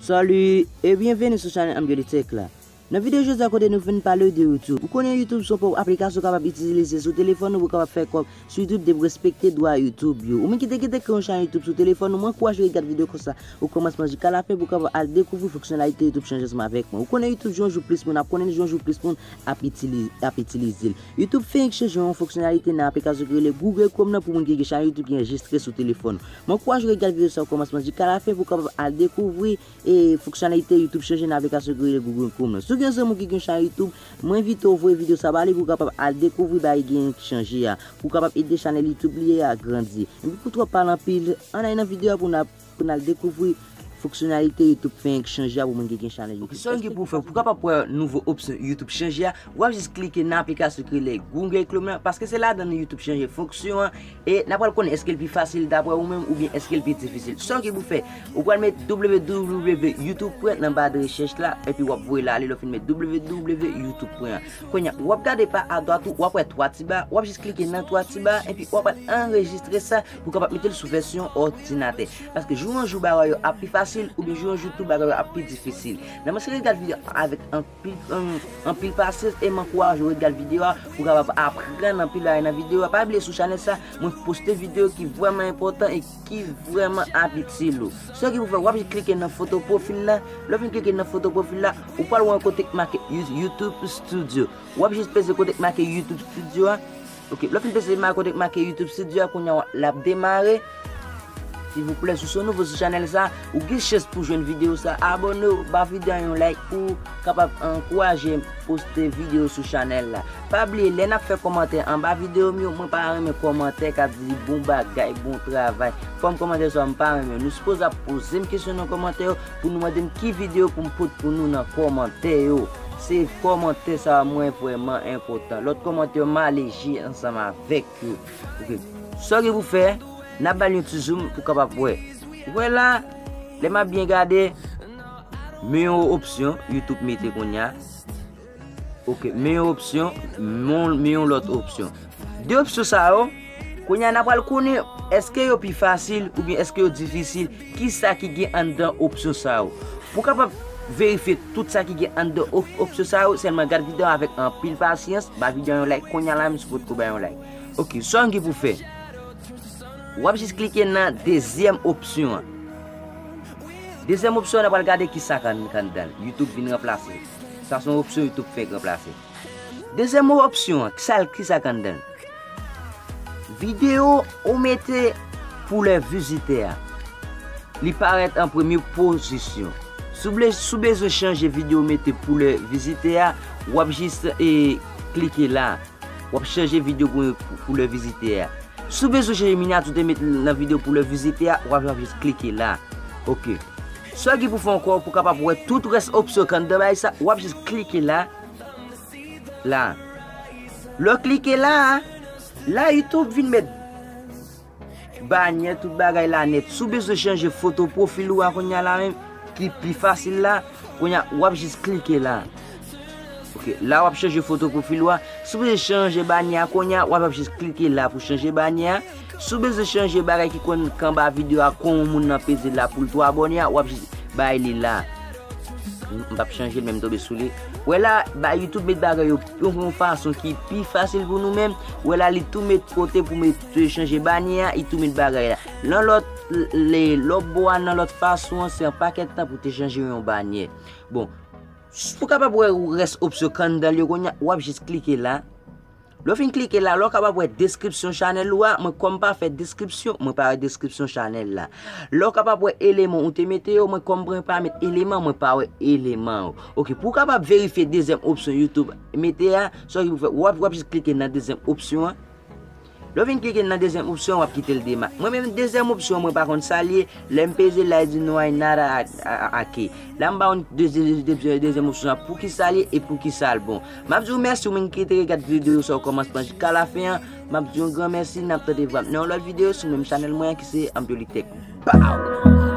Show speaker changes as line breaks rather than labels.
Salut e byenveni sou chanèl Amgele Tech la. Nan video jodi a kote nou vin palew de YouTube. Ou konnen YouTube son paw aplikasyon ou kapab itizilize sou telefon ou pou kapab fè kòb sou YouTube depi w respekte dwa YouTube yo. Ou menm ki te kite kreye yon chanèl YouTube sou telefon ou mwen ankouraje w regat video konsa o kòmansman jika la fen pou kapab al dekouvri fonksyonalite YouTube chanje ansanm avèk mwen. Ou konnen YouTube jou an jou plis moun ap konnen l jou an jou plis moun ap ap itilize l. YouTube fenk chanje yon fonksyonalite nan aplikasyon ki rele Google Chrome nan pou moun ki gen chanèl YouTube ki anrejistre sou telefon ou. Mwen kouwaje w regat video sa o komansman jika la fen pou w kapab al dekouvri e fonksyonalite youtube chanje nan aplikasyon ki rele Google Chrome lan. Si w gen yon zanmi w ki gen yon chanel youtube, mwen envite w voye video sa ba li pou w kapab al dekouvri bagay ki genyen ki chanje a, pou w kapab ede chanel youtube li a grandi. Enpi pou w twòp pale anpil, ann ale nan video a pou n al dekouvri Fonksyonalite YouTube fenk chanje a pou moun ki gen chanèl YouTube. Sa w gen pou w fè, pou w kapab wè nouvo opsyon YouTube chanje a, w ap jis klike nan aplikasyon ki rele Google Chrome lan, paske se ladan li YouTube chanje fonksyon an, e n ap pral konnen èske l pi fasil daprè ou menm oubyen èske l pi difisil. Sa w gen pou w fè, ou pral met www.youtube. Nan ba de rechèch la, epi w ap voye l ale lè w fin met www.youtube. Kounye a, w ap gade pa adwat ou, w ap wè twa ti ba, w ap jis klike nan twa ti ba a, epi w ap al anrejistre sa pou w kapab mete l sou vèsyon òdinatè. Paske jou an jou bagay yo ap pi fasil oubyen jou an jou tou bagay yo ap pi difisil. Nan mwen se ke gad video a avèk anpil pasyans e man kouwaj ou gad video a pou kapab aprann anpil bagay nan video a. Pa bliye sou chanèl sa mwen poste video ki vwèman enpotan e ki vwèman ap itil ou. Sèl sa ki pou fè wap jis klike nan foto pwofil la, lè w fin klike nan foto pwofil la ou pwal wè yon kote ki make youtube studio. Wap jis peze kote ki make youtube studio a. Ok lè w fin peze imaj kote k make YouTube studio a kounya w l ap demare silvouplè si w se yon nouvo sou chanèl sa ou gen chans pou w jwenn videyo sa abòne w ba videyo an yon like pou w kapab ankouraje m poste videyo sou chanèl la pa bliye lè n ap fè kòmantè anba videyo m yo mwen pa renmen kòmantè k ap di bon bagay bon travay fòm kòmantè sa yo m pa renmen yo nou sipoze ap poze m kesyon nan kòmantè yo. Pou nou mande m ki video pou m pot pou nou nan komantè yo. Se komantè sa a mwen vreman enpotan. Lot komantè yo m ale je ansanm avek yo. Ok. Sa w gen pou fe, na bal yon ti zoom ou kapab we. Ou we la, le m ap byen gade, men yon opsyon youtube mete kounye a. Ok, men yon opsyon, men yon lòt opsyon. De opsyon sa yo, kounye an apal konnen, eske yo pi fasil, ou byen eske yo difisil, ki sa ki gen an dan opsyon sa yo. Pou kapap verifye tout sa ki gen an dan opsyon sa yo, selman gad videyo avèk an pil pasyans, ba videyo yon like, kounye an la menm si pot ko ba yon like. Ok, sa yon gen pou fè. Wap jis klike nan dezyèm opsyon an. Dezyèm opsyon an apal gade ki sa kan dan. Youtube vin ranplase. Sa son opsyon youtube k fèk ranplase. Dezyèm opsyon an kisa l kisa k anndan l? Videyo ou mete pou lè vizitè a li parèt an premye pozisyon. Si w ble si w bezwen chanje videyo ou mete pou lè vizitè a, w ap jis e klike la. W ap chanje videyo pou yon pou lè vizitè a. Si w bezwen chanje minyati ou te mete nan videyo pou lè vizitè a, w ap jis klike la. Ok. Sa ki pou fè ankò pou kapab wè tout rès opsyon ki anndan bay sa, wap jis klike la, la. Lè w klike la, la YouTube vin met banyè tout bagay la nèt. Si w bezwen chanje foto pwofil ou a kounya la menm ki pi fasil la, kounya wap jis klike la. Ok, la wap chanje foto pwofil ou a. Si w bezwen chanje banyè a kounya, wap jis klike la pou chanje banyè a. Si w bezwen chanje bagay ki konn kanba video a kon yon moun nan peze la poul tou abone a wap jis bay li la. M pap chanje l men m tonbe sou li. Wè la ba youtube met bagay yo yon fason ki pi fasil pou nou men wè la li tou met kote pou met chanje banye a li tou met bagay la. Lan lòt le lòp bo a nan lòt fason an se yon pakèt tan pou te chanje yon banye. Bon. Ou kapab wè rès opsyon kanndal yo konya wap jis klike la. Lè w fin klike la la w kapab wè deskripsyon chanèl ou a, mwen kòm pa fè deskripsyon, mwen pa wè deskripsyon chanèl la. Lè w kapab wè eleman ou te mete yo, mwen kòm mwen pa met eleman, mwen pa wè eleman yo. Ok, pou w kapab verifye dezyèm opsyon YouTube mete a, sa ki pou fè, wap wap jis klike nan dezyèm opsyon an. Lè w fin klike nan dezyèm opsyon an wap kite l dema. Mwen menm dezyèm opsyon an mwen pa konn sa l ye, Lè m peze la, li di no hay nada aki. La m ba ou dezyèm opsyon an poukisa li e poukisa l bon. M ap di ou mèsi ou menm ki te regat videyo sa o kòmansman jika lafen an. M ap di yon gran mèsi, n ap tande vwa m nan yon lòt videyo sou menm chanèl mwen an ki se Anpyolik Tèk. Baww!